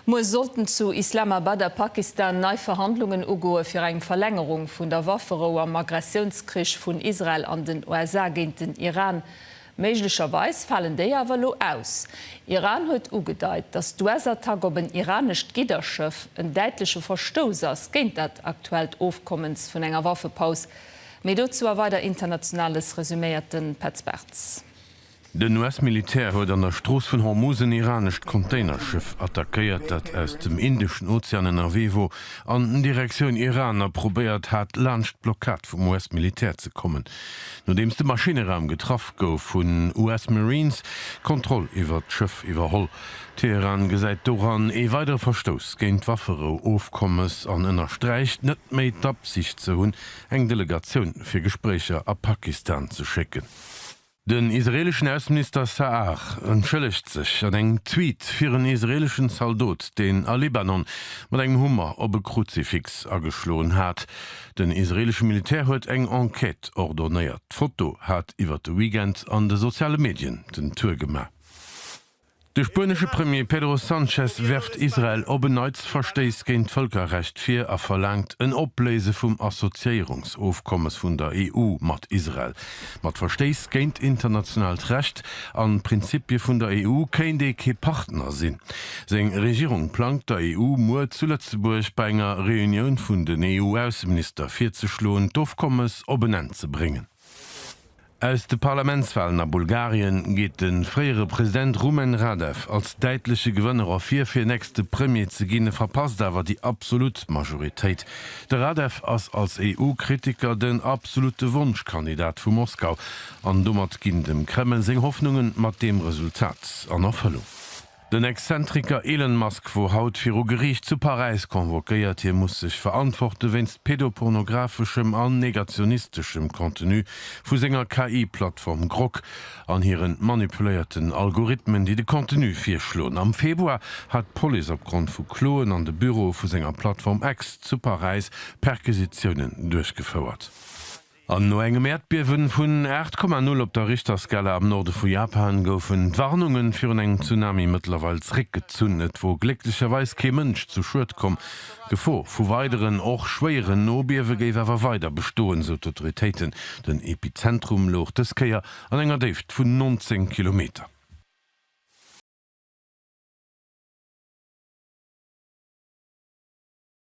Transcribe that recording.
Muer sollten zu Islamabad a Pakistan nei Verhandlungen ugoe fir eng Verlängerung vun der Wafferou am Aggressiounskrich vun Israel an den USA géint den Iran. Méiglecherweis falen déi awer elo aus. Iran huet ugedeit, datt d'US-Attack op en iranescht Gidderschëff en däitleche Verstouss ass géint dat aktuellt Ofkommens vun enger Waffepaus. Méi dozou a weider Internationales resuméiert de Petz Bartz. Den US-Militär huet an der Strooss vun Hormuz en iranescht Containerschëff attackéiert, dat aus dem Indeschen Ozean ënnerwee wor an Direktioun Iran a probéiert hat, laanscht d'Blockad vum US-Militär ze kommen. Nodeems de Maschinneraum getraff gouf, hunn US Marines d'Kontroll iwwert d'Schëff iwwerholl. Teheran gesäit doran ee weidere Verstouss géint d'Wafferou-Ofkommes an ënnersträicht, net méi d'Absicht ze hunn, eng Delegatioun fir Gespréicher a Pakistan ze schécken. Den israeleschen Ausseminister Sa'ar entschëllegt sech an engem Tweet fir en israeleschen Zaldot, deen a Libanon mat engem Hummer op e Kruzifix ageschloen hat. Den israelesche Militär huet eng Enquête ordonéiert. D'Foto hat iwwer de Weekend an de soziale Medien den Tour gemaach. De spuenesche Premier Pedro Sanchez werft Israel op en Neits Verstéiss géint d'Vëlkerrecht vir a verlaangt en Opléise vum Assoziéierungsofkommes vun der EU mat Israel. Mat Verstéiss géint internationaalt Recht an d'Prinzippie vun der EU kéint ee kee Partner sinn. Seng Regierung plangt der EU muer zu Lëtzebuerg bei enger Reunioun vun den EU-Ausseminister virzeschloen, d'Ofkommes op en Enn ze bréngen. Aus de Parlamentswalen a Bulgarien geet de fréiere President Rumen Radev als däitleche Gewënner ervir. Fir nächste Premier ze ginn, e verpasst awer déi absolut Majoritéit. De Radev ass als EU-Kritiker den absolute Wonschkandidat vu Moskau an domat ginn dem Kreml seng Hoffnunge mat deem Resultat an Erfëllung. Den Exzentriker Elon Musk wor haut viru Geriicht zu Paräis convoquéiert. Hie muss sech verantworte wéinst pedopornographeschem an negationisteschem Contenu vu senger KI-Plattform Grok an hire manipuléierten Algorithmen, déi de Contenu virschloen. Am Februar hat d'Police opgrond vu Kloen an de Büroe vu senger Plattform X zu Paräis Perquisitiounen duerchgefouert. An no engem Äerdbiewen vun 8,0 op der Richterskala am Norde vu Japan goufen d'Warnungen virun engem Tsunami mëttlerweil zréckgezunn. Et wor glécklecherweis kee Mënsch zu Schued komm. D'Gefor vu weideren, och schwéieren Nobiewe géif awer weider bestoen, sou d'Autoritéiten. Den Epizentrum louch dës Kéier an enger Déift vun 19 Kilometer.